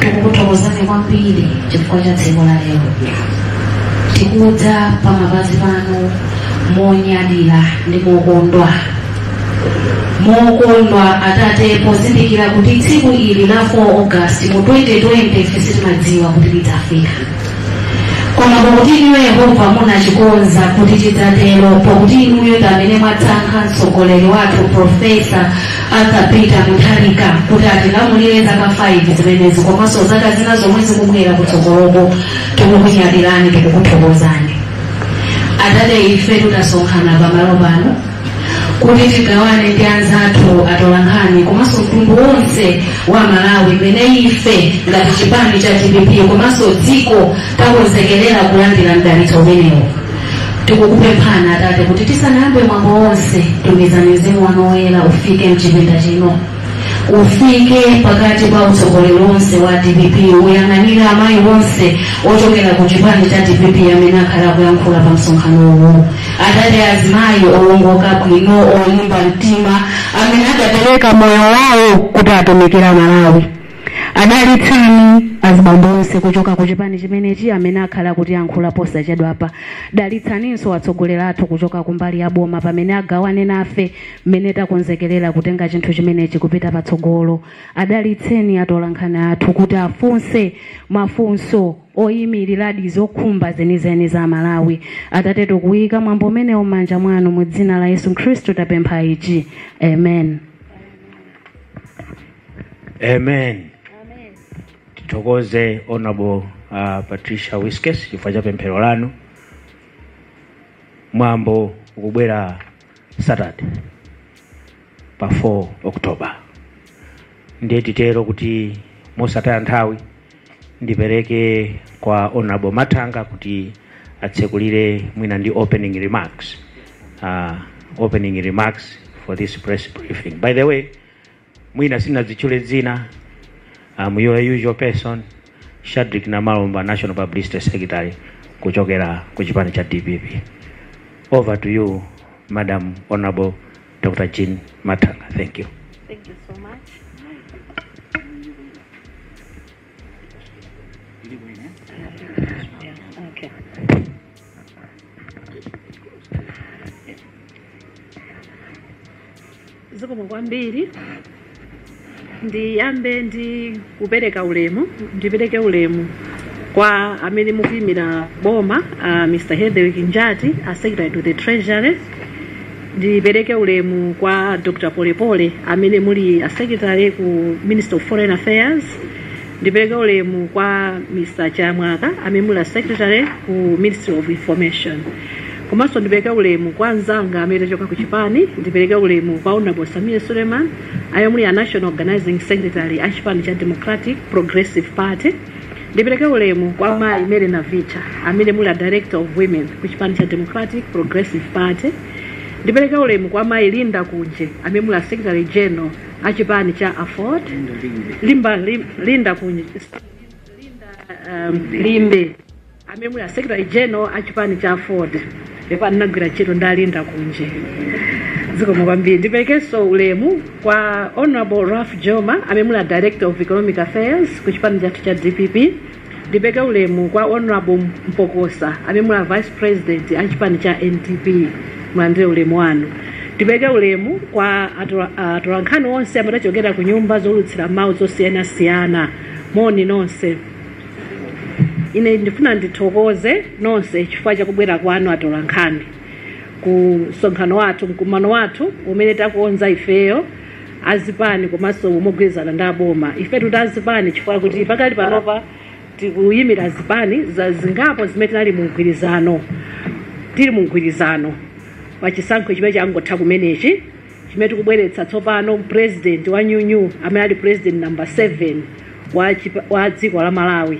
tikukuthokozani kwambiri chifukwa cha tsiku la lero tikudza pa mapazi panu monyadira ndi mokondwa mokondwa atate pozindikira kuti tsiku ili la 4 august mu 2020 ife sitimadziwa kuti lidzafika koma pakuti inuyo yehova munachikonza kuti chidzatero pakuti inuyo ndi amene mwatsankha mtsogoleri wathu profesa Arthur Peter Mutharika kuti atilamulire zaka 5 zimenezi komanso zaka zina zomwe zikubwera kutsogoloko tikukunyadirani tikukuthokozani atate ife tidasonkhana pamalo pano kuti tigawane ndi anzathu atolankhani komanso mtundu wonse wa malawi mmene ife ngati chipani cha dpp komanso dziko takonzekelera kulandira mdalitso umenewo tikukupemphani atate kuti tisanayambe mwambo wonse tumizani mzimu wanu woyera ufike mchipinda chino ufike pakati pa utsogoleri wonse wa dpp uyang'anire amayi wonse ochokera ku chipani cha dpp amene akhala akuyankhula pa msonkhano uwu atate azimayi owongoka bwino olimba mtima amene adapereka moyo wawo kuti atumikire malawi adalitsani azibambo onse kuchoka ku chipani chimenechi amene akhale akutiyankhula posachedwapa dalitsaninso atsogoleri athu kuchoka kumbali ya boma pamene agawane nafe mmene takonzekerera kutenga chinthu chimenechi kupita patsogolo adalitseni atolankhani athu kuti afunse mafunso oyimiriradi zokhumba zenizeni za malawi atate tikuyika mwambo umenewu m'manja mwanu mu dzina la yesu khristu tapempha ichi amen amen tithokoze honorable uh, patricia wiskes chifukwa cha pemphero lanu mwambo ukubwera saturday pa 4 october ndiye titero kuti mosataya nthawi ndipereke kwa honorable mathanga kuti atsekulire mwina ndi opening remarks uh, opening remarks for this press briefing by the way mwina sinazitchule dzina am your usual person shadrick namalomba national publicity secretary kuchokera ku chipani cha dpp over to you madam honorable dr jean matanga thank you Thank you so much. Yeah, okay. zikomo kwambiri ndiyambe ndi kupereka ulemu ndipereke ulemu kwa amene mukuyimira boma uh, mr hetherwick njati a secretary to the treasury ndipereke ulemu kwa dr polepole amene muli a secretary ku ministry of foreign affairs ndipereke ulemu kwa mr chiyamwaka amene muli a secretary ku ministry of information Komanso ndipereke ulemu kwa anzanga amene tachoka ku chipani, ndipereke ulemu kwa Honorable Sameer Suleiman amene muli a National Organising Secretary a chipani cha Democratic Progressive Party, ndipereke ulemu kwa mayi Mary Navicha amene muli a Director of Women ku chipani cha Democratic Progressive Party, ndipereke ulemu kwa mayi Linda Kunje amene muli a Secretary General a chipani cha Aford, Limba, Lim, Linda Kunje, Linda um, Limbe. amene muli a secretary general a chipani cha aford ndipo anagwira ntchito ndi a linda kunje zikomo kwambiri ndiperekenso ulemu kwa honorable ralph jooma amene muli a director of economic affairs ku chipani chathu cha dpp ndipeke ulemu kwa honorable mpokosa amene muli a vice president a chipani cha ndp mulandire ulemu wanu ndipeke ulemu kwa atola- atolankhani onse amene achokera ku nyumba zoulutsira mawu zosiyanasiyana moni nonse ine ndifuna ndithokoze nonse chifukwa chakubwera kwanu atolankhani ku msonkhano wathu mkumano wathu umene takonza ifeyo azipani komanso mogwirizana ndi aboma ife tikuti azipani chifukwa kuti pakali panopa tikuyimira zipani zingapo zimene tinali mu mgwirizano tili mu mgwirizano pa chisankho chimene changotha kumenechi chimene chikubweretsa tsopano president wa new new amene ali president number 7 wa, chipa- wa dziko la malawi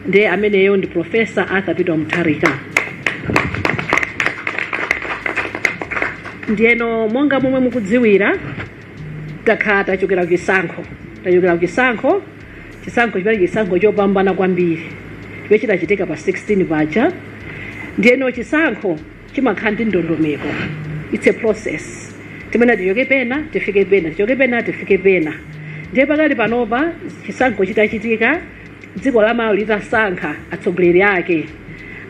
ndiye ameneyo ndi profesa arthur peter mutharika ndiyeno monga momwe mukudziwira takhala tachokera ku chisankho tachokera ku chisankho chisankho chimene chisankho chopambana kwambiri chimene chinachitika pa 16 paja ndiyeno chisankho chimakhala ndi ndondomeko its a process imene tichoke pena tifike pena tichoke pena tifike pena ndiye pakali panopa chisankho chitachitika dziko la malawi litasankha atsogoleri ake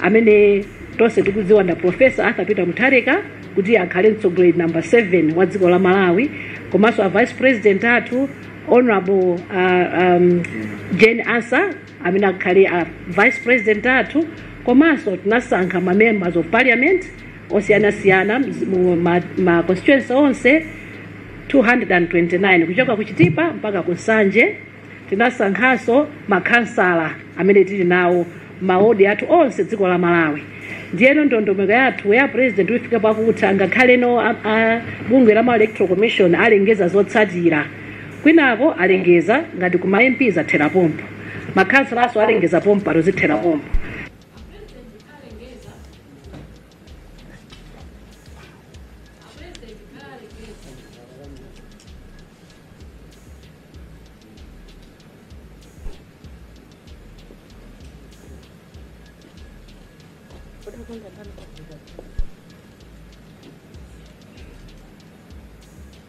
amene tonse tikudziwa nda profesa arthur peter mutharika kuti akhale mtsogoleri namba 7 wa dziko la malawi komanso a vice president athu honorable uh, um, jane ansah amene akhale a vice president athu komanso tinasankha ma members of parliament osiyanasiyana mzi- mu ma, ma constituency onse 229 kuchoka ku chitipa mpaka ku nsanje tinasankhanso makhansala amene tili nawo m'maodi athu onse dziko la malawi ndiyeno ndondomeko yathu ya president ifika pakutha ngakhale no a- a- bungwe la ma electoral commission alengeza zotsatira Kwinako alengeza ngati ku ma MP zathera pompo. Makhansalanso alengeza pompano zithera pompo.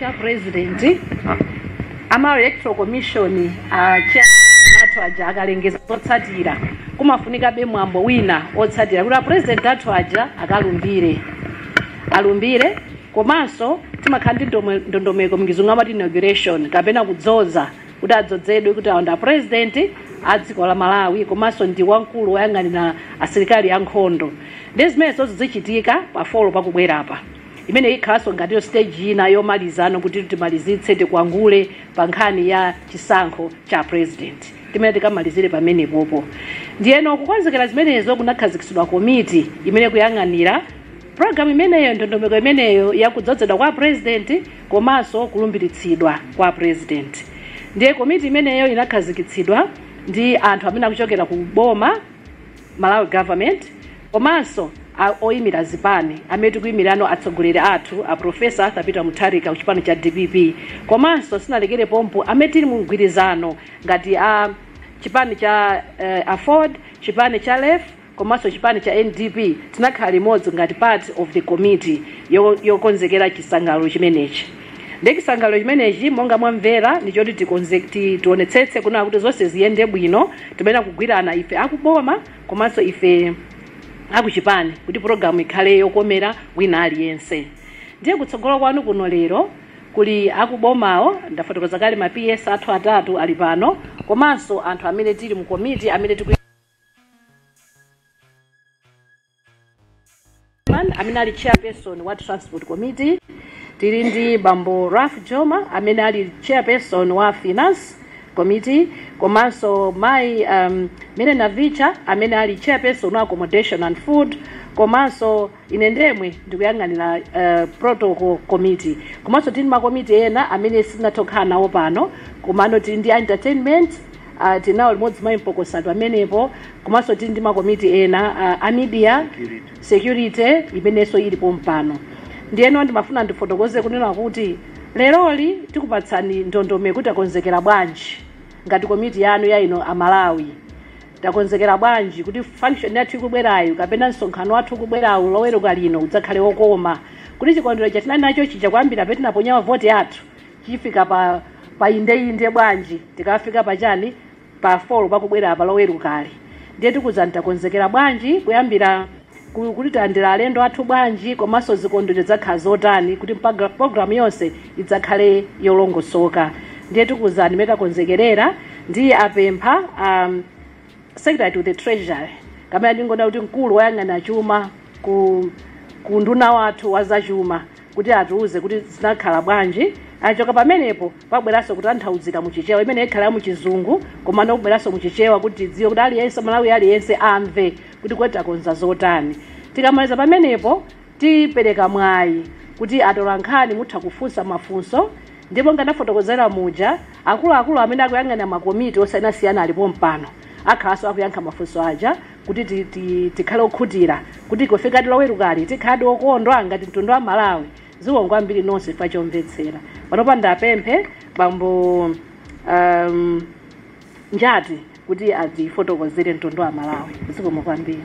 cha president a malawi electoral commission a chair athu aja akalengeza zotsatira kumafunikabe mwambo wina otsatira kuti apresident athu aja akalumbire alumbire komanso timakhala ndi ndome- ndondomeko mchizungu amati inauguration kapena kudzoza kuti adzozedwe kuti awo ndi apurezidenti a dziko la malawi komanso ndi wamkulu woyang'anira asilikali ankhondo ndi zimene zichitika pa folo pakubwerapa imene ikhalanso ngatiyo stage ina yomalizano kuti timalizitse tikwangule pa nkhani ya chisankho cha apurezidenti timene tikamalizire pamenepopo ndiyeno kukonzekera zimenezo kunakhazikitsidwa komiti imene ikuyang'anira programu imeneyo ndondomeko imeneyo yakudzozedwa kwa apurezidenti komanso kulumbiritsidwa kwa president ndiye komiti imeneyo inakhazikitsidwa ndi anthu amene akuchokera ku boma malawi government komanso a- oyimira zipani amene tikuyimirano atsogoleri athu a profesa arthur peter mutharika ku chipani cha dpp komanso sinalekere pompo amene tili mu mgwirizano ngati a chipani cha eh, aford chipani cha lef komanso chipani cha NDP tinakhala limodzi ngati part of the committee yo, yokonzekera chisangalalo chimenechi nde chisangalalo chimenechi monga mwamvera ndi choti tikonze ti- tionetsetse kunena kuti zonse ziyende bwino timayenera kugwirana ife akuboma komanso ife akuchipani kuti pulogalamu ikhale yokomera wina aliyense ndiye kutsogolo kwanu kuno lero kuli akubomawo ndafotokoza kale ma ps athu atatu ali pano komanso anthu amene tili mu komiti amene tiku Chairman amene ali chairperson wa transport committee tili ndi bambo Ralph Jooma amene ali chairperson wa finance committee komanso mai um, Mary Navicha amene ali chairperson wa accommodation and food komanso ine ndemwe ndikuyang'anira uh, protocol committee komanso tili ndi makomiti ena amene sitinathe kukhala nawo pano komano tili ndi entertainment uh, tinawo limodzi mai mpokosa pamenepo komanso tili ndi makomiti ena uh, a media security imenenso ili pompano ndiyeno ndimafuna ndifotokoze kunena kuti leroli tikupatsani ndondomeko kuti takonzekera bwanji ngati komiti yanu ya inu amalawi Takonzekera bwanji kuti function yathu ikubwerayu kapena msonkhano wathu ukubwerawu loweruka lino udzakhale wokoma? Kuti chikondwero chija tinali nacho chija kuyambira pamene tinaponya mavoti athu chifike pa pa indeinde bwanji? Tikafika pa chani pa four pakubwerapa lowerukali? Ndiye tikuwuzani takonzekera bwanji kuyambira. ku- kuti tilandira alendo athu bwanji komanso zikondwerero zidzakhala zotani kuti mpaga- programu yonse idzakhale yolongosoka ndiye tikuwuzani mmene takonzekerera ndiye ndipempha um, secretary to the treasury kapena ndingonena kuti mkulu woyang'ana chuma ku, ku unduna wathu wa zachuma kuti atiuze kuti zidzakhala bwanji. Akachoka pamenepo, pabweranso kutanthauzira mu Chichewa, imene ikhala ya mu Chizungu, komano kubweranso mu Chichewa kuti tidziwe kuti aliyense, Mmalawi aliyense amve kuti kodi takonza zotani. Tikamaliza pamenepo, tipereka mwayi kuti atolankhani mutha kufunsa mafunso, ndipo monga ndafotokozera muja, akuluakulu amene akuyang'anira makomiti osiyanasiyana ali pompano, akhalanso akuyankha mafunso aja. kuti ti, ti, tikhale okhutira kuti kufikadi lowerukali tikhaladi okondwa ngati mtundu wa Malawi zikomo kwambiri nonse chifukwa chomvetsera panopa ndiwapemphe bambo um, Njati kuti adzafotokozere mtundu wa Malawi zikomo kwambiri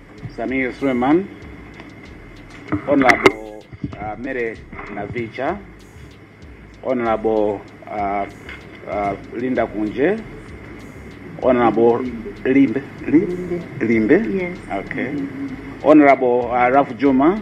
Samir Suleiman, Honorable uh, Mary Navicha, Honorable uh, uh, Linda Kunje, Honorable Limbe. Limbe. Limbe? Yes. Okay. Honorable uh, Ralph Juma,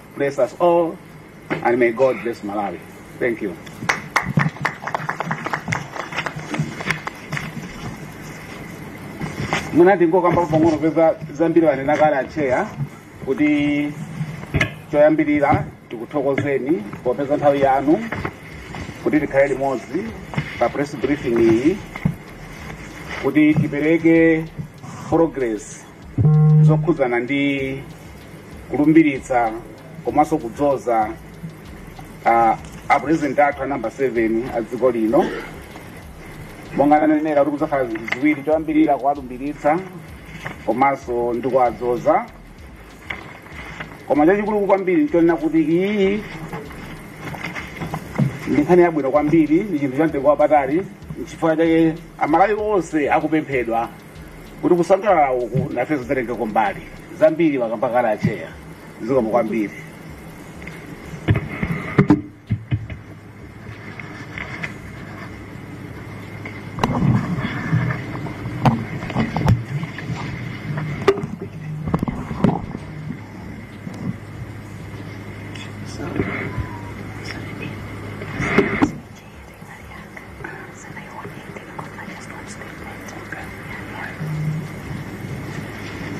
Bless us all and may God bless Malawi. Thank you. mwina tingokambako pang'ono popeza zambiri anena kale acheya kuti choyambirira tikuthokozeni popeza nthawi yanu kuti tikhale limodzi pa press briefing iyi kuti tipereke progress zokhudzana ndi kulumbiritsa komanso kudzoza ah, a president athu a namba 7 a dziko lino monga ananenera kuti kudzakhala zinthu ziwiri choyambirira kuwalumbiritsa komanso ndi kuwadzoza koma chachikulu kwambiri nchonena kuti iyi ndi nkhani yabwino kwambiri ndi chinthu chamtengo wapatali nchifukwa chake Amalawi onse akupemphedwa kuti kusangalala uku nafenso tizitengako mbali zambiri akamba kale acheya zikomo kwambiri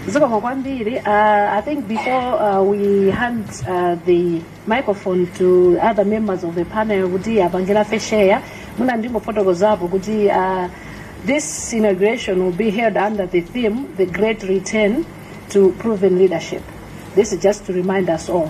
zikomo kwambiri uh, i think before uh, we hand uh, the microphone to other members of the panel kuti apangira fesheya muna ndingofotokozapo kuti uh, this inauguration will be held under the theme the great return to proven leadership this is just to remind us all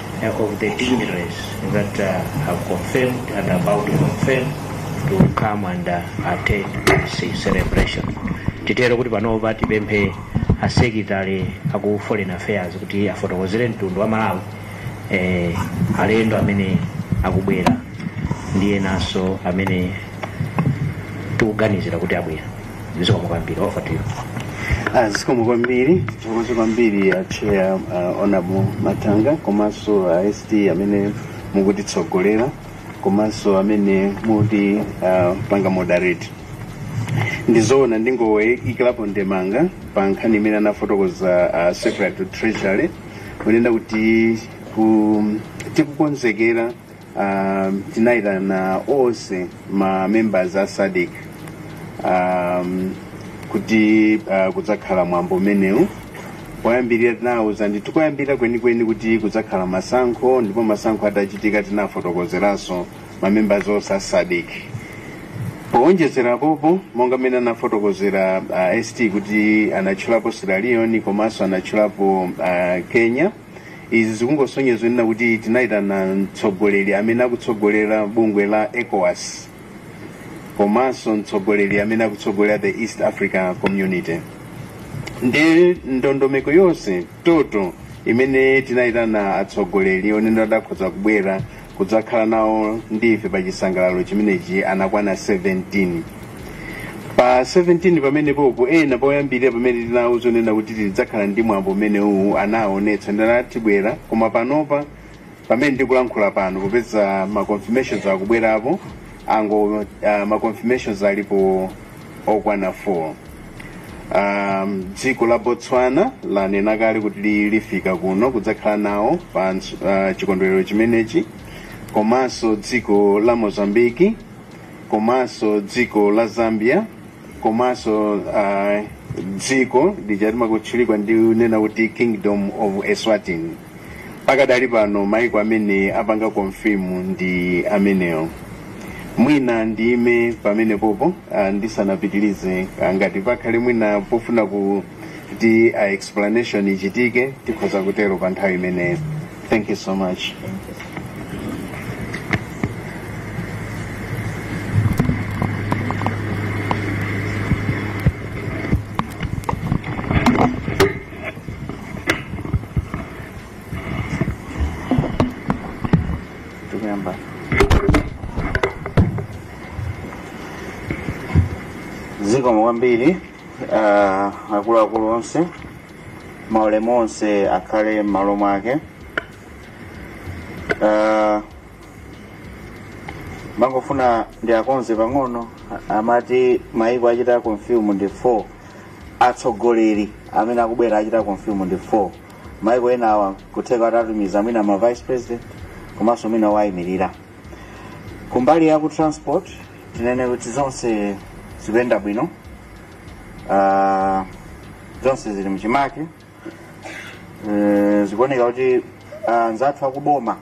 of the dignitaries that uh, have confirmed and about to confirm to come and uh, attend this celebration. Titero kuti panopa tipemphe a secretary aku foreign affairs kuti afotokozere mtundu wa Malawi eh, alendo amene akubwera ndi enanso amene tikuganizira kuti abwera. zikomo kwambiri over to you Ah, zikomo kwambiri zikomo kwambiri a chair uh, honorable mathanga komanso a uh, st amene mukutitsogolera komanso amene muti uh, panga moderate ndizoona ndingoikirapo ndemanga pa nkhani imene anafotokoza uh, secretary to treasury kunena kuti ku, tikukonzekera um, tinayitana onse ma members a sadc um, kuti uh, kudzakhala mwambo umenewu poyambirira tinawuza ndithu koyambirira kwenikweni kuti kudzakhala masankho ndipo masankho atachitika tinafotokozeranso ma members onse a sadc powonjezera popo monga mmene anafotokozera uh, st kuti anatchulapo sierra leone komanso anatchulapo uh, kenya izi zikungosonyeza kunena kuti tinayitana mtsogoleri amene akutsogolera bungwe la ecowas komanso mtsogoleri amene akutsogolera the east africa community ndi ndondomeko yonseyo imene tinayitana atsogoleri onena adakhoza kubwera kudzakhala nawo ndi ife pa chisangalalo chimenechi anakwana 17 pa 17 pamenepopo ena poyambirira pamene tinawuza kunena kuti tidzakhala ndi mwambo umene uwu anaonetsa ndithu abwera koma panopa pamene ndikulankhula pano popeza ma confirmations akubwerapo ango uh, ma confirmations alipo okwana 4 um, dziko la botswana lanena kale kuti li- lifika kuno kudzakhala nawo pa ns- uh, chikondwerero chimenechi komanso dziko la mozambique komanso dziko la zambia komanso uh, dziko lija timakutchula ndi kunena kuti kingdom of eswatini pakadali pano maiko amene apanga confirm ndi amenewo mwina ndiime pamenepopo uh, ndisanapitilize uh, ngati pakhale mwina pofuna kuti uh, explanation ichitike tikhoza kutero pa nthawi imeneyo Thank you so much. zikomo kwambiri ah, akuluakulu onse maulemu onse akhale m'malo mwake Ah, mangofuna ndikonze pang'ono a- amati maiko achita confirm ndi 4 atsogoleri amene akubwera achita confirm ndi 4 maiko enawa kutheka adzatumiza mwina ma vice president komanso mwina owayimirira kumbali ya ku transport tinene kuti zonse zikuyenda bwino Ah, zonse zili mchimake Eh, zikuoneka kuti ah, anzathu akuboma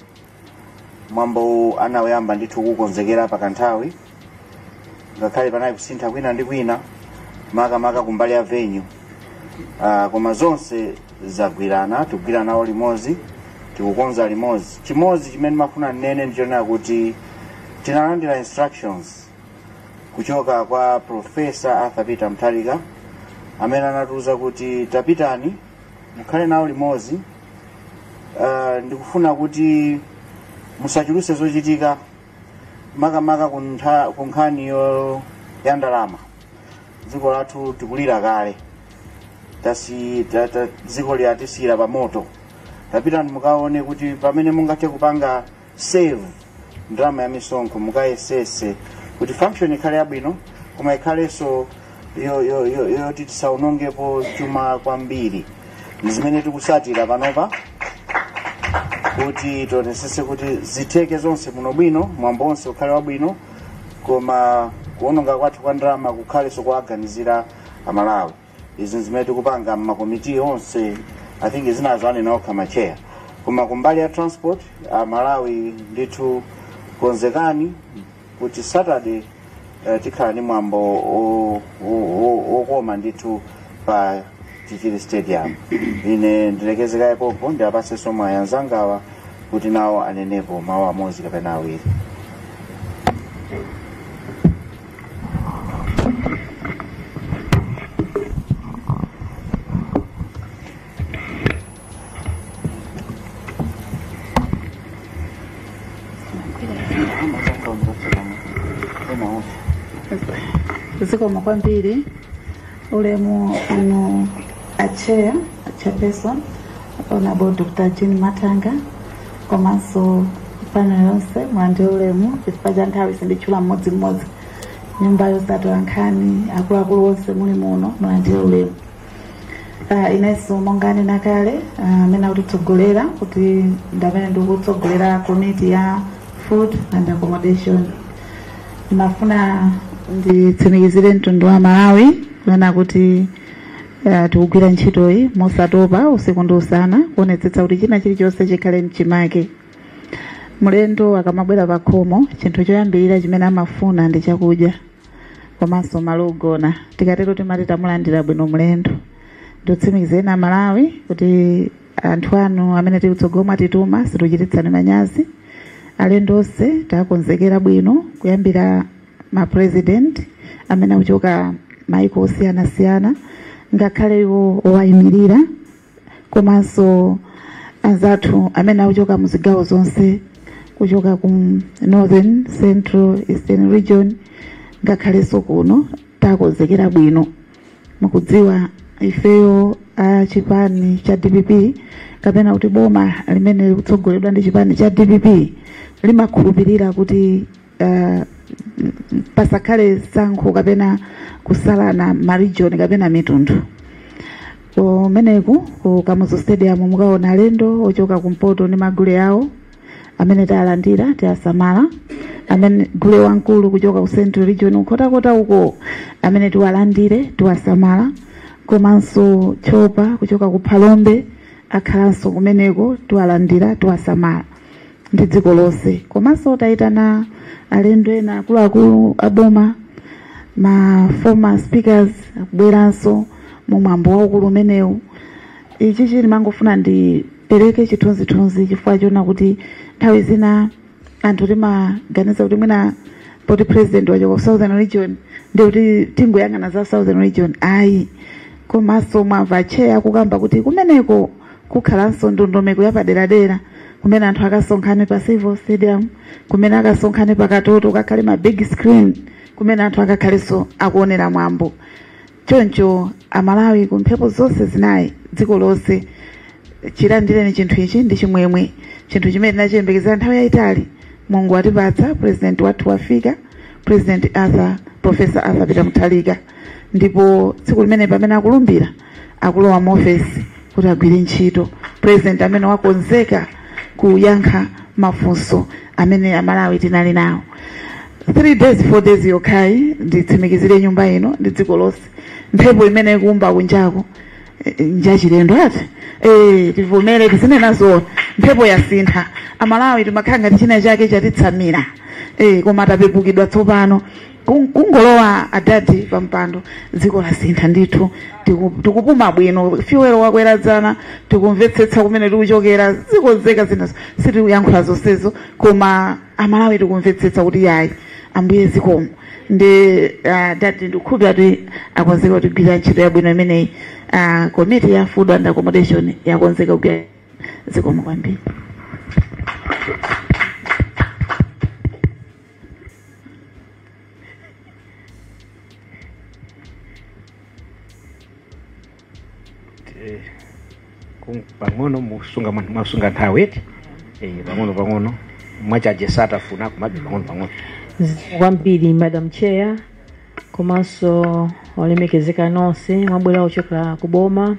mwambowu anawuyamba ndithu kukonzekera pa kanthawi ngakhale panali kusintha kwina ndi kwina makamaka kumbali ya venue Ah, koma zonse zagwirana tikugwira nawo limodzi tikukonza limodzi chimodzi chimene ndimafuna ndinene ndichonena kuti tinalandira instructions kuchoka kwa profesa arthur peter mutharika amene anatiuza kuti tapitani mukhale nawo limodzi uh, ndikufuna kuti musachuluse zochitika makamaka ku ntha- ku nkhani yo- ya ndalama dziko lathu tikulira kale tasi ta, ta, dziko ili atisiyira pa moto tapitani mukaone kuti pamene mungathe kupanga save ndalama ya misonkho mukayesese kuti function ikhale yabwino koma ikhalenso yo- yo- yo- yoti tisaonongepo chuma kwambiri ndi zimene tikusatira panopa kuti tionetsetse kuti zitheke zonse muno bwino mwambo wonse ukhale wabwino koma kuononga kwathu kwa ndalama kukhalenso kuwaganizira amalawi izi nzimene tikupanga mmakomiti onse i think zinazo anena okha matcheya koma kumbali ya transport a malawi ndithu konzekani kuti saturday eh, tikhala ndi mwambo o- o- o- okoma ndithu pa chichiri stadium ine ndilekeze kaye pompo ndiwapatsenso mwayi anzangawa kuti nawo anenepo mawu amodzi kapena awiri zikomo kwambiri ulemu anu atcheya chairperson honorable dr jean mathanga komanso panel yonse mulandire ulemu chifukwa cha nthawi sinditchula mmodzimmodzi nyumba zotola nkhani akuluakulu onse muli muno mulandire ulemu Ah, inenso monga anena kale ah, amene akutitsogolera kuti ndamene ndikutsogolera komiti ya food and accommodation ndimafuna nditsimikizire mtundu wa malawi kunena kuti uh, tikugwira ntchitoyi mosatopa usiku ndi usana kuonetsetsa kuti china chilichonse chikhale mchimake mlendo akamabwera pa khomo chinthu choyambirira chimene amafuna ndi chakudya komanso malo ogona tikatero timati tamulandira bwino mlendo ndikutsimikizireni amalawi kuti anthu anu amene tili kutsogolo mwatituma situchititsani manyazi alendo onse takonzekera bwino kuyambira ma president amene akuchoka maiko osiyanasiyana ngakhale iwo owayimirira komanso anzathu amene akuchoka mu zigawo zonse kuchoka ku northern central eastern region ngakhalenso kuno takonzekera bwino mukudziwa ifeyo a chipani cha dpp kapena kuti boma limene likutsogoledwa ndi chipani cha dpp limakhulupirira kuti uh, pasakhale sankho kapena kusalana marijoni kapena mitundu kumeneku ku kamuzu stadium mukaona alendo ochoka kumpoto ndi magule awo amene tawalandira tiwasamala amene gule wamkulu kuchoka ku central region Nkhotakota uko amene tiwalandire tiwasamala komanso tchopa kuchoka ku phalombe akhalanso kumeneko tiwalandira tiwasamala ndi dziko lonse komanso tayitana alendo ena akuluakulu aboma ma former speakers akubweranso mu mwambo waukulu umenewu ichichi ndimangofuna ndi pereke chithunzithunzi chifukwa chonena kuti nthawi zina anthu timaganiza kuti mwina poti president wachoka ku southern region ndiye kuti tingoyang'ana za southern region ayi komanso mwamva cheya kukamba kuti kumeneko kukhalanso ndondomeko yapaderadera kumene anthu akasonkhane pa civo stadium kumene akasonkhane pa katoto kukakhale ma big screen kumene anthu akakhalenso akuonera mwambo Choncho Amalawi ku mphepo zonse zinayi dziko lonse, chilandireni chinthu ichi ndi chimwemwe. Chinthu chimene tinachiyembekezera nthawi yayitali Mulungu watipatsa, Purezidenti wathu wafika, Purezidenti Arthur, Professor Arthur Peter Mutharika. Ndipo tsiku limene pamene akulumbira akulowa mu ofesi, kuti agwire ntchito president amene wakonzeka kuyankha mafunso amene amalawi tinali nawo three days four days yokhayi nditsimikizire nyumba ino ndi dziko lonse mphepo imene ikuomba kunjako eh, njachilendo ati eh, tivomere tizinena zoona mphepo yasintha amalawi timakhala ngati china chake chatitsamira eh, koma tapepukidwa tsopano Kung- kungolowa adadi pa mpando dziko lasintha ndithu Tiku- tikupuma bwino fiwelo wakwera dzana tikumvetsetsa kumene tikuchokera zikonzeka zinazo sitikuyankhula zonsezo koma amalawi tikumvetsetsa kuti yayi ambuye zikomo ndiye uh, dadi ndikukhulupirira kuti akonzeka kutigwirira ntchito yabwino imeneyi uh, komiti ya food and accommodation yakonzeka kugwira zikomo kwambiri Eh, kung- pang'ono musunga mwa- mwasunga nthawi eti Eh, pang'ono pang'ono mwachaje satafuna kumabe pang'ono pang'ono zikomo kwambiri madam chair komanso olemekezeka nonse mwabwera ochokera ku boma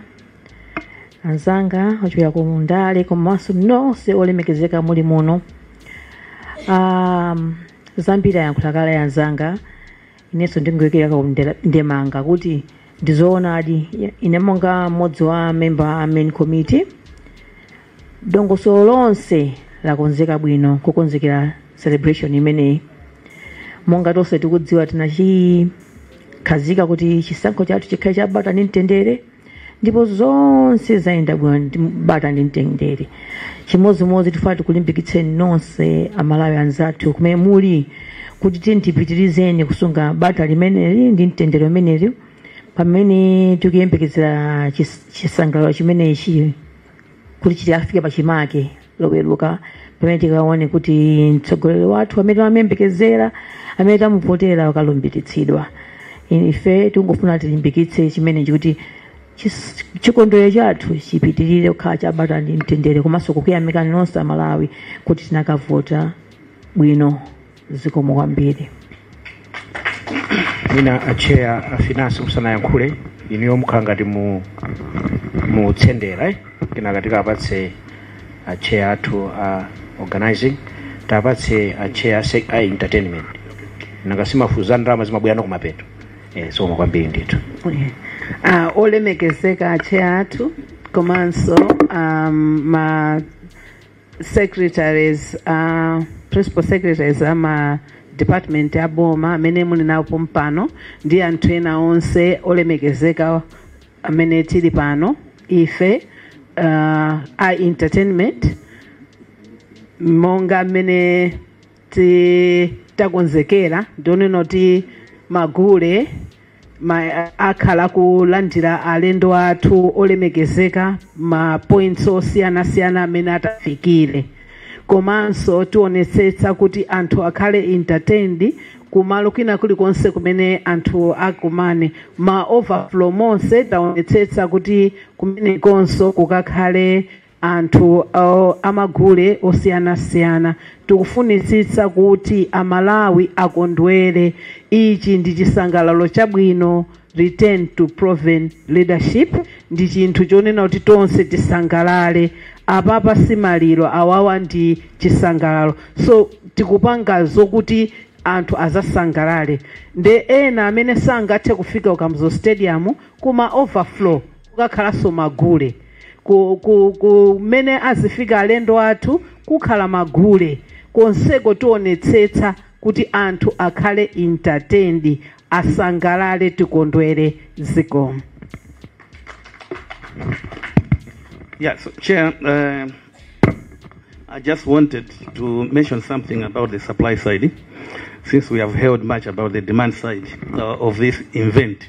anzanga ochokera kumundale komanso nonse olemekezeka muli muno um, zambiri ayankhula kale anzanga inenso ndingoyikira ka- ndemanga kuti ndizoonadi ine monga mmodzi wa mamemba a main committee dongosolo lonse lakonzeka bwino kukonzekera celebration imeneyi monga tonse tikudziwa tinachikhazika kuti chisankho chathu chikhale chabata ndi mtendere ndipo zonse zayenda bwino ndi bata ndi mtendere chimodzimodzi tifuna tikulimbikitseni nonse amalawi anzathu kumene muli kuti tiyeni tipitirizeni kusunga bata limeneli ndi mtendere umeneli pamene tikuyembekezera chis- chisangalalo chimenechi kuti chikafike pachimake loweruka pamene tikaone kuti mtsogoleri wathu amene tamuyembekezera amene tamuvotera wakalumbiritsidwa ife tingofuna tilimbikitse chimenechi kuti chis- chikondwerero chathu chipitirire kukhala chabata ndi mtendere komanso kukuyamikani nonse amalawi kuti tinakavota bwino zikomo kwambiri mwina acheya afinansi musanayankhule inuyo mukhala ngati mu- mutsendera eh? kenaka tikapatse acheya athu a organizing tapatse acheya a sec- a entertainment nanga si mafunso a ndalama zimabwerano kumapeto eh, zikomo kwambiri ndithu uh, olemekezeka acheya athu komanso um, ma secretaries uh, principal secretaries ama department a boma amene muli nawo pompano ndi anthu ena onse olemekezeka amene tili pano ife uh, a entertainment monga mmene takonzekera ndionena kuti magule ma- akhala kulandira alendo athu olemekezeka ma points osiyanasiyana amene atafikire komanso tionetsetsa kuti anthu akhale entertained kumalo kwina kulikonse kumene anthu akumane ma overflow monse taonetsetsa kuti kumenekonso kukakhale anthu amagule osiyanasiyana tikufunitsitsa kuti a Malawi akondwere ichi ndi chisangalalo chabwino return to proven leadership ndi chinthu chonena kuti tonse tisangalale apapa si maliro awawa ndi chisangalalo so tikupanga zokuti anthu azasangalale nde ena amene sangathe kufika ku Kamuzu stadium kuma overflow kukakhalanso magule ku- ku- kumene azifika alendo athu kukhala magule konseko tionetsetsa kuti anthu akhale entertained asangalale tikondwere zikomo Yeah, so Chair, uh, I just wanted to mention something about the supply side, since we have heard much about the demand side uh, of this event.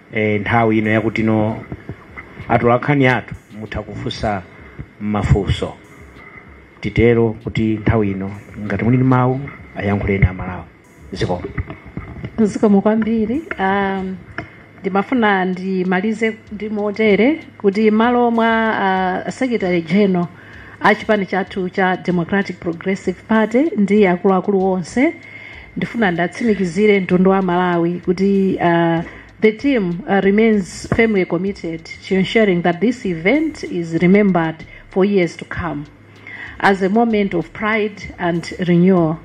e, nthawi ino yakuti inu atolankhani athu mutha kufunsa mafunso titero kuti nthawi ino ngati muli ndi mawu ayankhuleni amalawi zikomo zikomo kwambiri um, ndimafuna ndimalize ndi motere kuti malo mwa uh, secretary general a chipani chathu cha democratic progressive party ndi akuluakulu onse ndifuna ndiwatsimikizire mtundu wa malawi kuti uh, the team uh, remains firmly committed to ensuring that this event is remembered for years to come as a moment of pride and renewal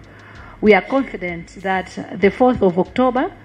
we are confident that the 4th of october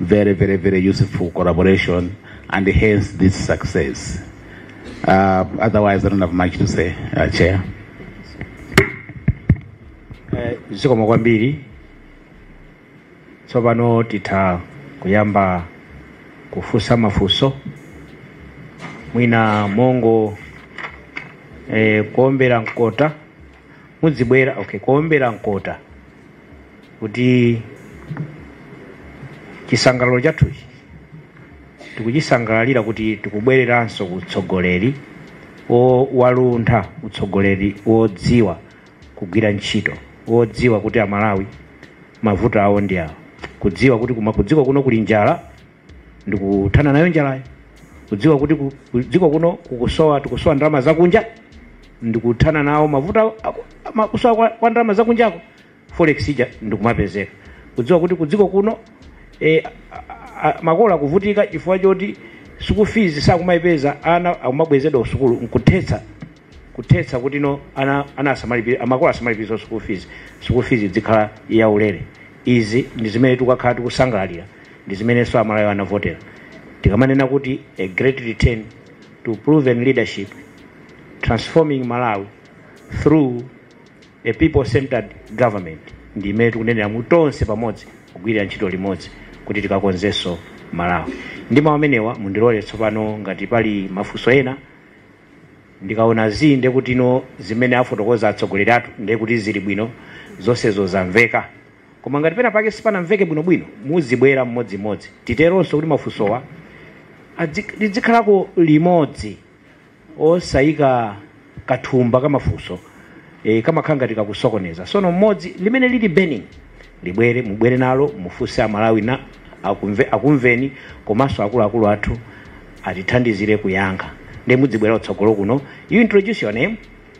very, very, very useful collaboration and hence this success. Uh, otherwise, I don't have much to say, uh, Chair. Eh, zikomo kwambiri tsopano titha kuyamba kufunsa mafunso mwina mongo eh, kuombera mkota mudzibwera okay kuombera mkota kuti chisangalalo chathuchi tikuchisangalalira kuti tikubwereranso ku utsogoleri o- waluntha utsogoleri wodziwa kugwira ntchito wodziwa kuti amalawi mavuto awo ndi awo kudziwa kuti kuma kudziko kuno kuli njala ndikuthana nayo njalayo kudziwa kuti ku- ku- dziko kuno kukusowa tikusowa ndalama zakunja ndikuthana nawo mavuto a- aku- ama- kusowa kwa, kwa ndalama zakunjako forex ija ndikumapezeka kudziwa kuti kudziko kuno e, makolo akuvutika chifukwa choti school fees sakumayipeza ana akumabwezedwa kusukulu nkuthetsa kuthetsa kuti no ana ana asamalipire amakolo asamalipire school fees school fees idzikhala yaulere izi ndi zimene tikakhala tikusangalalira ndi zimenenso amalawi anavotera tikamanena kuti a great return to proven leadership transforming malawi through a people centered government ndi imene tikunenera mu tonse pamodzi kugwirira ntchito limodzi kuti tikakonzenso malawi ndi mawu amenewa mundilole tsopano ngati pali mafunso ena ndikaona zii ndekuti no zimene afotokoza atsogoleri athu ndekuti zili bwino zonsezo zamveka Koma ngati pena pake sipanamveke bwino bwino muzibwera mmodzi mmodzi titeronso kuti mafunsowa adzik lidzikhalako limodzi osayika kathumba kamafunso e, kamakhala ngati kakusokoneza sono mmodzi limene lili burning libwere mubwere nalo mufunse amalawi nawo akumve, akumveni komanso akuluakulu athu atithandizire kuyankha nde mudzibwera kutsogolo kuno you introduce your name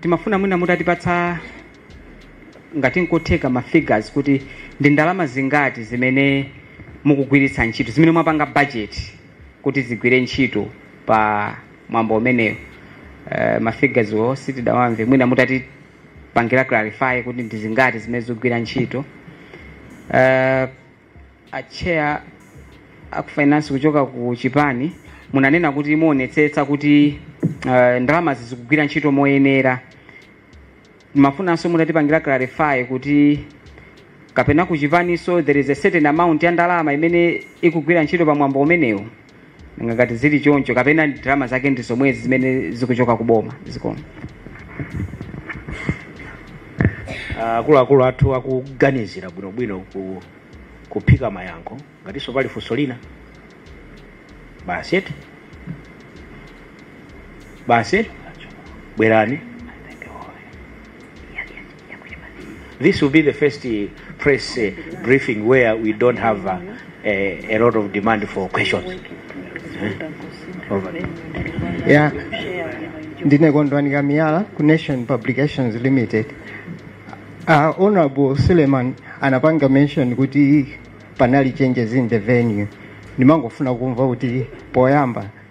timafuna mwina mutatipatsa ngati nkotheka ma figures kuti ndi ndalama zingati zimene mukugwiritsa ntchito zimene mwapanga budget kuti zigwire ntchito pa mwambo umenewo uh, ma figures wo sitidawamve mwina mutatipangira clarify kuti ndi zingati zimene zikugwira ntchito uh, a chair aku finance kuchoka ku chipani munanena kuti muonetsetsa kuti uh, ndalamazi zikugwira ntchito moyenera timafunanso mutatipangira clarify kuti kapena ku chipaniso there is a certain amount ya ndalama imene ikugwira ntchito pa mwambo umenewu nanga ngati zili choncho kapena ndalama zake ndi zomwezi zimene zikuchoka ku boma zikomo Ah, akuluakulu athu akuganizira bwinobwino ku kuphika mayankho ngatinso pali funso lina basi eti basi eti bwerani This will be the first uh, press uh, briefing where we don't have uh, a, a lot of demand for questions. Eh? Over. ya ndine kondwani kamiyala ku nation publications limited uh, honorable suleiman anapanga mention kuti panali changes in the venue ndimangofuna kumva kuti poyamba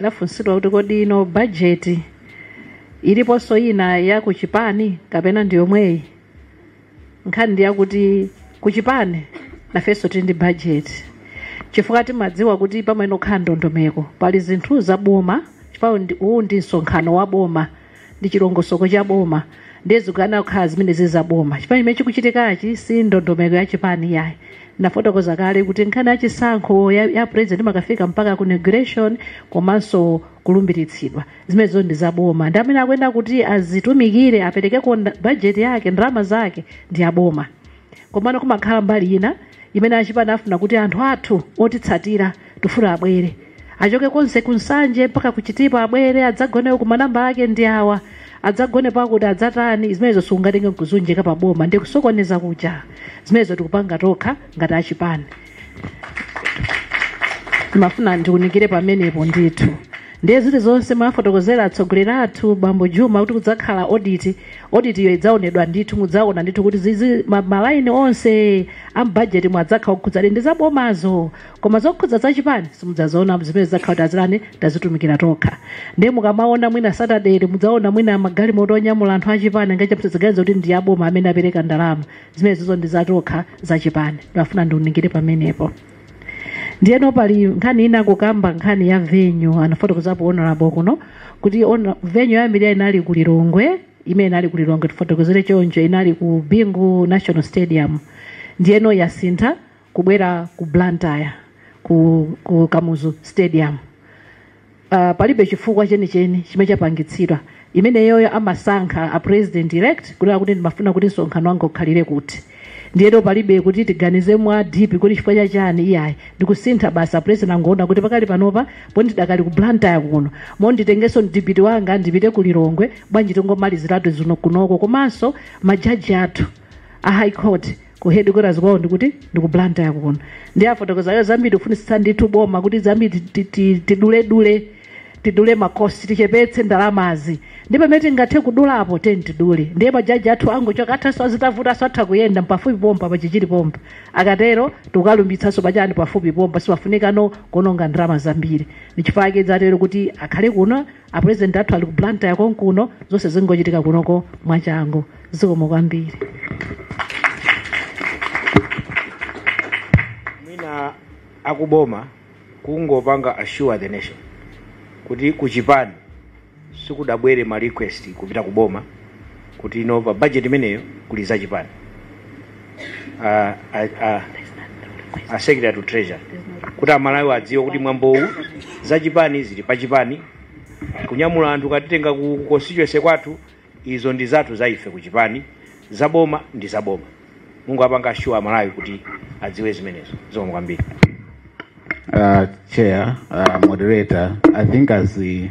lafunsidwa kuti kodi ino bajeti iliponso ina ya kuchipani kapena ndi yomweyi nkhani ndi yakuti kuchipani nafenso tili ndi bajeti chifukwa timadziwa kuti pamayenera kukhala ndondomeko pali zinthu za boma chifukwa ndi- uwu ndi msonkhano wa boma ndi chilongosoko cha boma ndiye zikuyenera kukhala zimene zili za boma chipani chimene chikuchitikachi si ndondomeko ya chipani yayi nafotokoza kale kuti nkhani ya chisankho ya, ya president imakafika mpaka ku inauguration komanso kulumbiritsidwa zimenezo ndi za boma ndi amene akuyenera kuti azitumikire aperekeko nda- budget yake ndalama zake ndi ya boma Komano kumakhala mbali ina imene achipani afuna kuti anthu athu otitsatira tifuna abwere. Achoke konse ku Nsanje mpaka ku Chitipa abwere adzagone uku manamba ake ndi awa. Adzagone pakuti adzatani zimenezo sungatenge nkuzunjika pa boma ndikusokoneza kuja. Zimenezo tikupanga tokha ngati achipani. timafuna ndikunikire pamenepo ndithu ndiye zili zonse mmene afotokozera atsogoleri athu bambo juma kuti kudzakhala oditi oditi iyo idzaonedwa ndithu mudzaona ndithu kuti zizi ma- malaini onse amubhajeti mwadzakhala okhudzadi ndi zabomazo koma zokhudza zachipani simudzaziona zimene zidzakhala kuti azilani tazitumikira tokha ndiye mukamaona mwina satadeli mudzaona mwina magalimoto onyamula anthu achipani musadzaganize kuti ndi aboma amene apereka ndalama zimene zizo ndi zatokha za chipani ndimafuna ndiunikire pamenepo ndiyeno pali nkhani ina kukamba nkhani ya venyu anafotokozapo honorable kuno kuti venyu ya mbiri inali ku lilongwe imene inali ku lilongwe tifotokozere choncho inali ku bingu national stadium ndiyeno yasintha kubwera ku Blantyre ku, ku Kamuzu Stadium uh, palibe chifukwa chenicheni chimene chapangitsidwa imeneyoyo amasankha a president elect kunena kuti ndimafuna kuti msonkhano wanga ukhalire kuti ndiyeno palibe kuti tiganize mwa deep kuti chifukwa cha chani iyayi ndikusintha basi a president angoona kuti pakali panopa poti ndidakali ku Blantyre kuno moti nditengenso DP wanga ndipite ku Lilongwe bwanji tingomaliziratu zino kunoko komanso majaji athu a high court ku headquarters kwawo ndikuti ndiku blantyre kuno ndiye afotokoza iwo zambiri kufunitsitsa ndithu boma kuti zambiri ti- ti- tiduledule tidule makosti tichepetse ndalamazi ndipo pamene tingathe kudulapo ti- tidule ndiye majaji athu angochoka athaso azitavutanso atha kuyenda pafupi pompa pachichiri pompa akatero tikalumbiritsanso pachani pafupi pompa sipafunikano kuononga ndalama zambiri ndichifukwa chake zatero kuti akhale kuno A president athu ali ku Blantyre konkuno zonse zingochitika kunoko mwachangu. Zikomo kwambiri. mwina akuboma kungopanga assure the nation kuti kuchipani sikudzabwera ma request kupita kuboma kuti ino pa budget imeneyo kuli zachipani uh, uh, uh, a secretary to treasury kuti amalawi adziwe kuti mwambowu zachipani zili pachipani kunyamula anthu katitenga ku ku constituency kwathu izo ndi zathu za ife kuchipani zaboma ndi zaboma mungowapanga assure amalawi kuti adziwe zimenezo zikomo kwambiri Uh, Chair, uh, Moderator, I think as the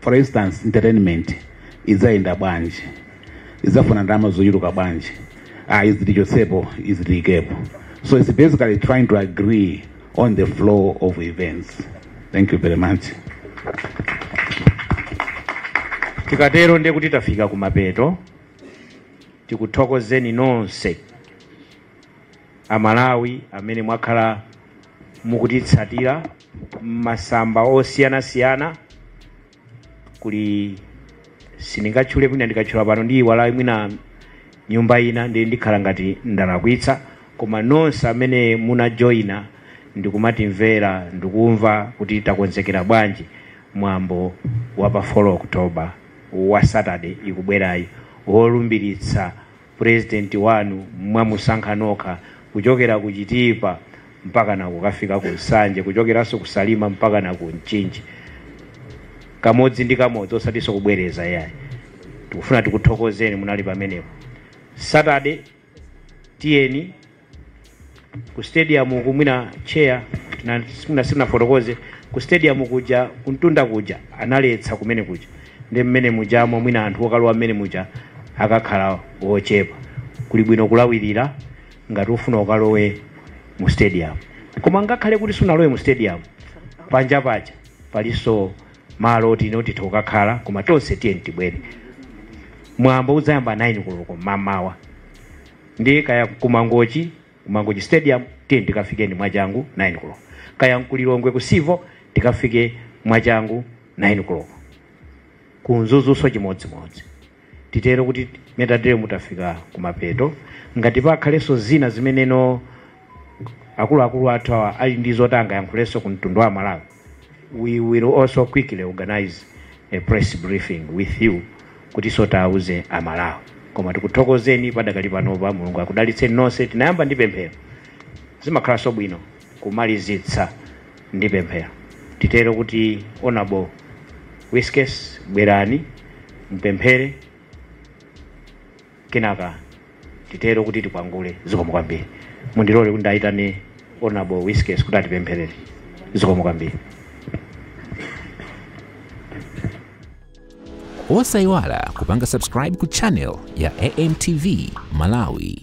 for instance entertainment idzayenda bwanji idzafuna ndalama zochuluka bwanji ah izi tichotsepo izi tiyikepo so it's basically trying to agree on the flow of events thank you very much tikatero ndiye kuti tafika kumapeto tikuthokozeni nonse amalawi amene mwakhala mukutitsatira m'masamba osiyanasiyana kuli sindingatchule mwina ndikatchula pano ndiiwala mwina nyumba ina ndi ndikhala ngati ndalakwitsa koma nonse amene munajoyina ndikumatimvera ndikumva kuti takonzekera bwanji mwambo wa pa 4 October wa saturday ikubwerayi wolumbiritsa President wanu mwamusankha nokha kuchokera ku Chitipa mpakana kukafika ku Nsanje, kuchokeranso ku Salima mpakana ku Mchinji, kamodzi ndi kamodzi osatinso kubwereza iyayi. Tikufuna tikuthokozeni munali pamenepo. Saturday tiyeni ku stadium uku mwina chair sanafotokoze ku stadium kuja kumtunda kuja analetsa kumene kuja ndi mmene mujamo mwina anthu okalowa mmene muja akakhala ochepa kuli bwino kulawirira ngati ufuna ukalowe mu stadium koma ngakhale kuti sunalowe mu stadium panja paja palinso malo oti ino titha kukakhala koma tonse tiyeni tibwere mwambo udzayamba 9 koloko mamawa Ndiye kaya ku Mangochi, ku Mangochi stadium tiyeni tikafike ndi mwachangu 9 koloko. Kaya nku Lilongwe ku Civo tikafike mwachangu 9 koloko. Ku Mzuzunso chimodzimodzi. Titero kuti mmene tateremu tafika kumapeto. Ngati pakhalenso zina zimeneno. akuluakulu athu awa ali ndi zoti angayankhulenso ku mtundu wa malawi we will also quickly organize a press briefing with you kuti so tawuze amalawi koma tikuthokozeni padakali panopa mulungu akudalitseni nonse tinayamba ndi pemphero zimakhalanso bwino kumalizitsa ndi pemphero titero kuti honourable whiskes bwerani mpemphere kenaka titero kuti tikwangule zikomo kwambiri mundilole kuti ndayitane honorable whiskes kuti atipempherere zikomo kwambiri osayiwala kupanga subscribe ku channel ya amtv malawi